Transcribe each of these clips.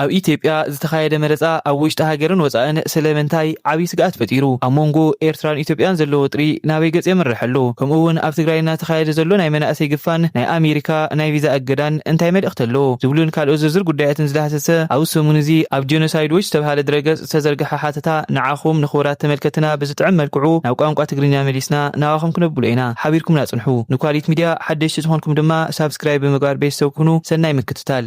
ኣብ ኢትዮጵያ ዝተኻየደ መረፃ ኣብ ውሽጢ ሃገርን ወፃእን ስለምንታይ ዓብዪ ስግኣት ፈጢሩ? ኣብ ሞንጎ ኤርትራን ኢትዮጵያን ዘሎ ወጥሪ ናበይ ገፅ የምርሕ ኣሎ? ከምኡ እውን ኣብ ትግራይ እናተኻየደ ዘሎ ናይ መናእሰይ ግፋን ናይ ኣሜሪካ ናይ ቪዛ እገዳን እንታይ መልእኽቲ ኣለዎ? ዝብሉን ካልኦት ዝርዝር ጉዳያትን ዝዳህሰሰ ኣብዚ ሰሙን እዚ ኣብ ጀኖሳይድ ዎች ዝተብሃለ ድረገፅ ዝተዘርገሐ ሓተታ ንዓኹም ንኽቡራት ተመልከትትና ብዝጥዕም መልክዑ ናብ ቋንቋ ትግርኛ መሊስና ናባኹም ክነብሎ ኢና። ሓቢርኩምና ፅንሑ። ንኳሊት ሚድያ ሓደሽቲ ዝኾንኩም ድማ ሳብስክራይብ ብምግባር ቤተሰብ ኩኑ። ሰናይ ምክትታል።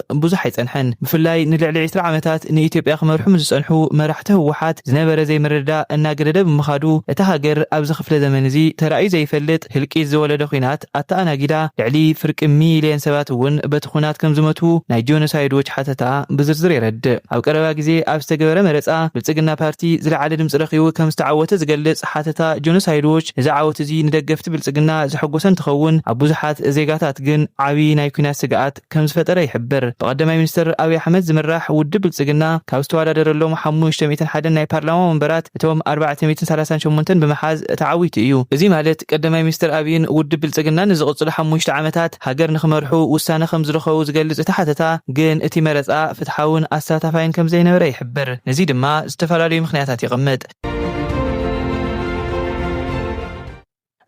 ብዙሕ ኣይጸንሐን። ብፍላይ ንልዕሊ ዕስራ ዓመታት ንኢትዮጵያ ክመርሑ ምስ ዝጸንሑ መራሕቲ ህወሓት ዝነበረ ዘይምርድዳእ እናገደደ ብምኻዱ እታ ሃገር ኣብዚ ክፍለ ዘመን እዚ ተራእዩ ዘይፈልጥ ህልቂት ዝወለደ ኲናት ኣተኣናጊዳ ልዕሊ ፍርቂ ሚልየን ሰባት እውን በቲ ዂናት ከም ዝመቱ ናይ ጆኖሳይድ ዎች ሓተታ ብዝርዝር የረድእ። ኣብ ቀረባ ግዜ ኣብ ዝተገበረ መረጻ ብልጽግና ፓርቲ ዝለዓለ ድምጺ ረኺቡ ከም ዝተዓወተ ዝገልጽ ሓተታ ጆኖሳይድ ዎች እዚ ዓወት እዚ ንደገፍቲ ብልጽግና ዘሐጎሰ እንትኸውን ኣብ ብዙሓት ዜጋታት ግን ዓብዪ ናይ ኲናት ስግኣት ከምዝፈጠረ ይሕብር። ብቀዳማይ ሚኒስትር ኣብይ ኣሕመድ ዝምራሕ ውድብ ብልፅግና ካብ ዝተወዳደረሎም ሓሙሽተ ሚእትን ሓደን ናይ ፓርላማ ወንበራት እቶም ኣርባዕተ ሚእትን ሰላሳን ሸሞንተን ብምሓዝ ተዓዊቱ እዩ። እዙይ ማለት ቀዳማይ ሚኒስትር ኣብይን ውድብ ብልፅግናን ንዝቕፅሉ ሓሙሽተ ዓመታት ሃገር ንክመርሑ ውሳነ ከምዝረኸቡ ዝገልፅ እቲ ሓተታ ግን እቲ መረፃ ፍትሓውን ኣሳታፋይን ከምዘይነበረ ይሕብር። ነዙይ ድማ ዝተፈላለዩ ምኽንያታት የቐምጥ።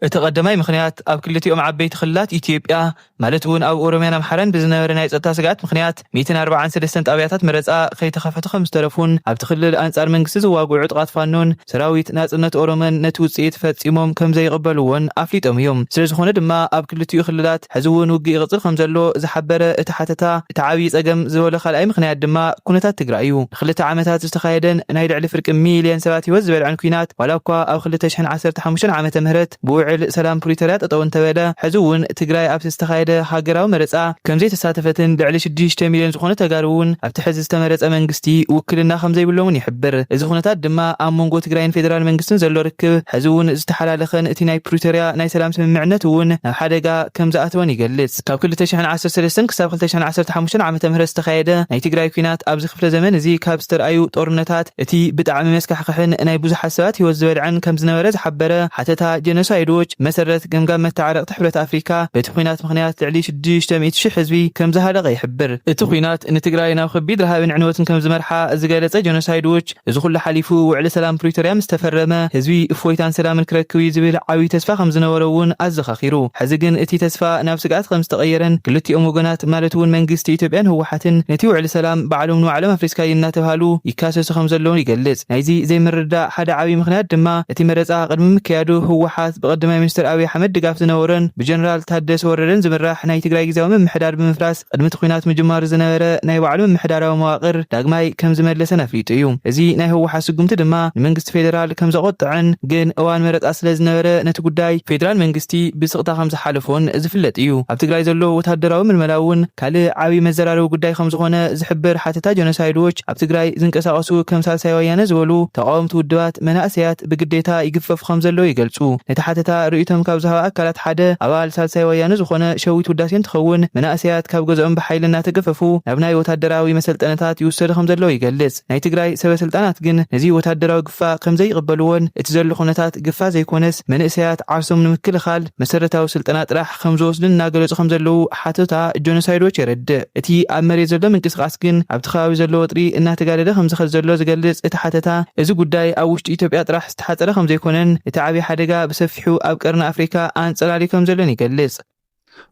እቲ ቀዳማይ ምኽንያት፣ ኣብ ክልቲኦም ዓበይቲ ክልላት ኢትዮጵያ ማለት እውን ኣብ ኦሮሚያን ኣምሓራን ብዝነበረ ናይ ፀጥታ ስግኣት ምኽንያት ሚእትን ኣርብዓን ሰለስተን ጣብያታት መረፃ ከይተኸፈቱ ከምዝተረፉን ኣብቲ ክልል ኣንፃር መንግስቲ ዝዋግኡ ዕጡቓት ፋኖን ሰራዊት ናፅነት ኦሮሞን ነቲ ውፅኢት ፈፂሞም ከምዘይቕበልዎን ኣፍሊጦም እዮም። ስለዝኾነ ድማ ኣብ ክልቲኡ ክልላት ሕዚ እውን ውግእ ይቕፅል ከምዘሎ ዝሓበረ እቲ ሓተታ፣ እቲ ዓብዪ ፀገም ዝበሎ ካልኣይ ምኽንያት ድማ ኩነታት ትግራይ እዩ። ንክልተ ዓመታት ብዝተኻየደን ናይ ልዕሊ ፍርቂ ሚሊየን ሰባት ህይወት ዝበልዐን ኲናት ዋላ እኳ ኣብ ክልተ ሽሕን ዓሰርተ ሓሙሽተን ዓመተ ምህረት ብውዕል ሰላም ፕሪቶርያ ጠጠው እንተበለ ሕዚ እውን ትግራይ ኣብቲ ዝተኻየደ ሃገራዊ መረፃ ከምዘይተሳተፈትን ልዕሊ ሽዱሽተ ሚሊየን ዝኾኑ ተጋሩ እውን ኣብቲ ሕዚ ዝተመረፀ መንግስቲ ውክልና ከምዘይብሎምን ይሕብር። እዚ ኩነታት ድማ ኣብ መንጎ ትግራይን ፌደራል መንግስትን ዘሎ ርክብ ሕዚ እውን ዝተሓላለኸን እቲ ናይ ፕሪቶርያ ናይ ሰላም ስምምዕነት እውን ሓደጋ ከምዝኣተወን ይገልጽ። ካብ ክልተ ሽሕን ዓሰርተ ሰለስተን ክሳብ ክልተ ሽሕን ዓሰርተ ሓሙሽተን ዓመተ ምህረት ዝተኻየደ ናይ ትግራይ ኲናት ኣብዚ ክፍለ ዘመን እዚ ካብ ዝተርኣዩ ጦርነታት እቲ ብጣዕሚ መስካሕክሕን ናይ ብዙሓት ሰባት ህይወት ዝበልዐን ከምዝነበረ ዝሓበረ ሓተታ ጀኖሳይድ ዎች ብመሰረት ገምጋም መተዓረቕቲ ሕብረት ኣፍሪካ በቲ ኲናት ምኽንያት ልዕሊ ሽዱሽተ ሚእቲ ሽሕ ህዝቢ ከምዝሃለቐ ይሕብር። እቲ ኲናት ንትግራይ ናብ ከቢድ ረሃብን ዕንወትን ከምዝመርሓ ዝገለፀ ጀኖሳይድ ዎች እዚ ኩሉ ሓሊፉ ውዕሊ ሰላም ፕሪቶርያ ምስ ተፈረመ ህዝቢ እፎይታን ሰላምን ክረክብ እዩ ዝብል ዓብዪ ተስፋ ከም ዝነበሮ እውን ኣዘኻኺሩ። ሕዚ ግን እቲ ተስፋ ናብ ስግኣት ከም ዝተቐየረን ክልቲኦም ወገናት ማለት እውን መንግስቲ ኢትዮጵያን ህወሓትን ነቲ ውዕሊ ሰላም ባዕሎም ንባዕሎም ኣፍሪስካዪ እናተብሃሉ ይካሰሱ ከም ዘለዉ ይገልፅ። ናይዚ ዘይምርድዳእ ሓደ ዓብዪ ምኽንያት ድማ እቲ መረፃ ቅድሚ ምክያዱ ህወሓት ብቀዳማይ ሚኒስትር ኣብዪ ኣሕመድ ድጋፍ ዝነበሮን ብጀነራል ታደሰ ወረደን ዝምራሕ ናይ ትግራይ ግዝያዊ ምምሕዳር ብምፍራስ ቕድሚ እቲ ኲናት ምጅማሩ ዝነበረ ናይ ባዕሉ ምምሕዳራዊ መዋቕር ዳግማይ ከም ዝመለሰን ኣፍሊጡ እዩ። እዚ ናይ ህወሓት ስጉምቲ ድማ ንመንግስቲ ፌደራል ከም ዘቖጠዐን ግን እዋን መረፃ ስለ ዝነበረ ነቲ ጉዳይ ፌደራል መንግስቲ ብስቕታ ከም ዝሓለፎን ዝፍለጥ እዩ። ኣብ ትግራይ ዘሎ ወታደራዊ ምልመላ እውን ካልእ ዓብዪ መዘራረቢ ጉዳይ ከም ዝኾነ ዝሕብር ሓተታ ጀኖሳይድ ዎች፣ ኣብ ትግራይ ዝንቀሳቐሱ ከም ሳልሳይ ወያነ ዝበሉ ተቓወምቲ ውድባት መናእሰያት ብግዴታ ይግፈፉ ከም ዘለዉ ይገልፁ። ነቲ ሓተታ ርእይቶም ካብ ዝሃባ ኣካላት ሓደ ኣባል ሳልሳይ ወያነ ዝኾነ ሸዊት ውዳሴ እንትኸውን መናእሰያት ካብ ገዝኦም ብሓይሊ እናተገፈፉ ናብ ናይ ወታደራዊ መሰልጠነታት ይውሰዱ ከም ዘለዉ ይገልፅ። ናይ ትግራይ ሰበ ስልጣናት ግን ነዚ ወታደራዊ ግፋ ከም ዘይቕበልዎን እቲ ዘሎ ኩነታት ግፋ ዘይኮነስ መንእሰያት ዓርሶም ንምክልኻል መሰረታዊ ስልጠና ጥራሕ ከም ዝወስድን እናገለጹ ከም ዘለዉ ሓተታ ጆኖሳይድ ዎች የረድእ። እቲ ኣብ መሬት ዘሎ ምንቅስቓስ ግን ኣብቲ ከባቢ ዘሎ ወጥሪ እናተጋደደ ከም ዝኸድ ዘሎ ዝገልጽ እቲ ሓተታ እዚ ጉዳይ ኣብ ውሽጢ ኢትዮጵያ ጥራሕ ዝተሓጸረ ከም ዘይኮነን እቲ ዓቢ ሓደጋ ብሰፊሑ ኣብ ቀርኒ ኣፍሪካ ኣንጸላልዩ ከም ዘሎን ይገልጽ።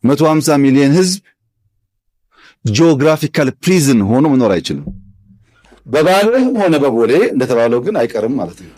መቶ ኣምሳ ሚልየን ህዝብ ጂኦግራፊካል ፕሪዝን ሆኖ መኖር አይችልም። በባሌም ሆነ በቦሌ እንደተባለው ግን አይቀርም ማለት ነው።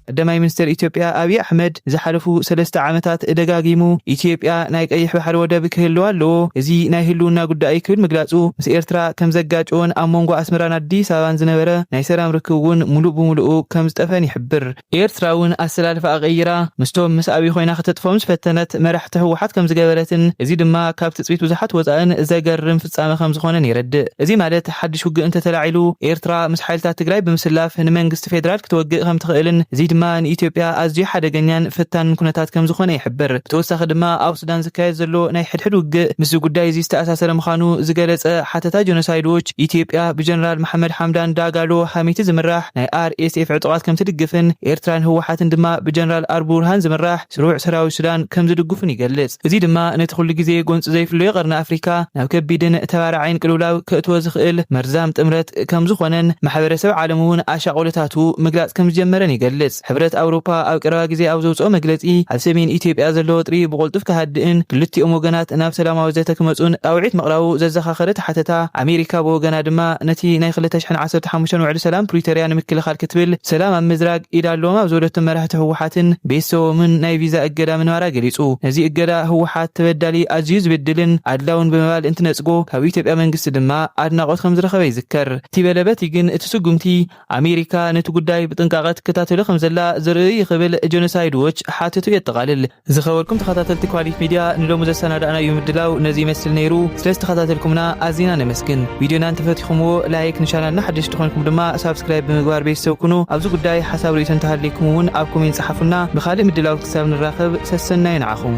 ቀዳማይ ሚኒስተር ኢትዮጵያ ኣብዪ ኣሕመድ ንዝሓለፉ ሰለስተ ዓመታት ደጋጊሙ ኢትዮጵያ ናይ ቀይሕ ባሕሪ ወደብ ክህልዋ ኣለዎ፣ እዚ ናይ ህልውና ጉዳይ እዩ ክብል ምግላጹ ምስ ኤርትራ ከም ዘጋጨዎን ኣብ መንጎ ኣስመራን ኣዲስ ኣበባን ዝነበረ ናይ ሰላም ርክብ'ውን ምሉእ ብምሉኡ ከም ዝጠፍአን ይሕብር። ኤርትራ እውን ኣሰላልፋኣ ቀይራ ምስቶም ምስ ኣብይ ኮይና ከተጥፍኦም ዝፈተነት መራሕቲ ህወሓት ከምዝገበረትን እዚ ድማ ካብ ትፅቢት ብዙሓት ወፃእን ዘገርም ፍፃመ ከምዝኾነን የረድእ። እዚ ማለት ሓዱሽ ውግእ እንተተላዒሉ ኤርትራ ምስ ሓይልታት ትግራይ ብምስላፍ ንመንግስቲ ፌደራል ክትወግእ ከምትኽእልን እዚ ድማ ንኢትዮጵያ ኣዝዩ ሓደገኛን ፈታንን ኩነታት ከምዝኾነ ይሕብር። ብተወሳኺ ድማ ኣብ ሱዳን ዝካየድ ዘሎ ናይ ሕድሕድ ውግእ ምስዚ ጉዳይ እዚ ዝተኣሳሰረ ምዃኑ ዝገለፀ ሓተታ ጀኖሳይድ ዎች ኢትዮጵያ ብጀነራል መሓመድ ሓምዳን ዳጋሎ ሃሚቲ ዝምራሕ ናይ RSF ዕጡቓት ከምትድግፍን ኤርትራን ህወሓትን ድማ ብጀነራል ኣልቡርሃን ዝምራሕ ስሩዕ ሰራዊት ሱዳን ከምዝድግፉን ይገልጽ። እዚ ድማ ነቲ ኩሉ ግዜ ጎንጺ ዘይፍለዮ ቀርኒ ኣፍሪካ ናብ ከቢድን ተባራዒን ቅልውላው ከእትዎ ዝኽእል መርዛም ጥምረት ከምዝኾነን ማሕበረሰብ ዓለም'ውን ኣሻቕሎታቱ ምግላጽ ከምዝጀመረን ይገልጽ። ሕብረት ኣውሮፓ ኣብ ቀረባ ግዜ ኣብ ዘውጽኦ መግለጺ፣ ኣብ ሰሜን ኢትዮጵያ ዘሎ ወጥሪ ብቕልጡፍ ክሃድእን ክልቲኦም ወገናት ናብ ሰላማዊ ዘተ ክመጹን ጻውዒት ምቕራቡ ዘዘኻኸረት ሓተታ፣ ኣሜሪካ ብወገና ድማ ነቲ ናይ ክልተ ሽሕን ዓሰርተ ሓሙሽተን ውዕሊ ሰላም ፕሪቶርያ ንምክልኻል ክትብል ሰላም ኣብ ምዝራግ ኢድ ኣለዎም ኣብ ዝበለቶም መራሕቲ ህወሓትን ቤተሰቦምን ናይ ቪዛ እገዳ ምንባራ ገሊጹ። ነዚ እገዳ ህወሓት ተበዳሊ፣ ኣዝዩ ዝብድልን ኣድላውን ብምባል እንትነጽጎ ካብ ኢትዮጵያ መንግስቲ ድማ ኣድናቖት ከምዝረኸበ ይዝከር። እቲ በለ በቲ ግን እቲ ስጉምቲ ኣሜሪካ ነቲ ጉዳይ ብጥንቃቐ ትከታተሎ ከምዘላ ዘርእይ'ዩ ክብል ጀኖሳይድ ዎች ሓተቱ የጠቓልል። ዝኸበርኩም ተኸታተልቲ ኳሊት ሚድያ ንሎሚ ዘሰናዳእናዩ ምድላው ነዚ ይመስል ነይሩ። ስለዝተኸታተልኩምና ኣዚና ነመስግን። ቪድዮና እንተፈቲኹምዎ ላይክ፣ ንቻናልና ሓደሽቲ ኾይንኩም ድማ ሳብስክራይብ ብምግባር ቤተሰብ ኩኑ። ኣብዚ ጉዳይ ሓሳብ ርእይቶ እንተሃልይኩም እውን ኣብ ኮሜንት ፀሓፉልና። ብኻሊእ ምድላውት ክሳብ ንራኸብ ሰሰናዩ ንዓኹም።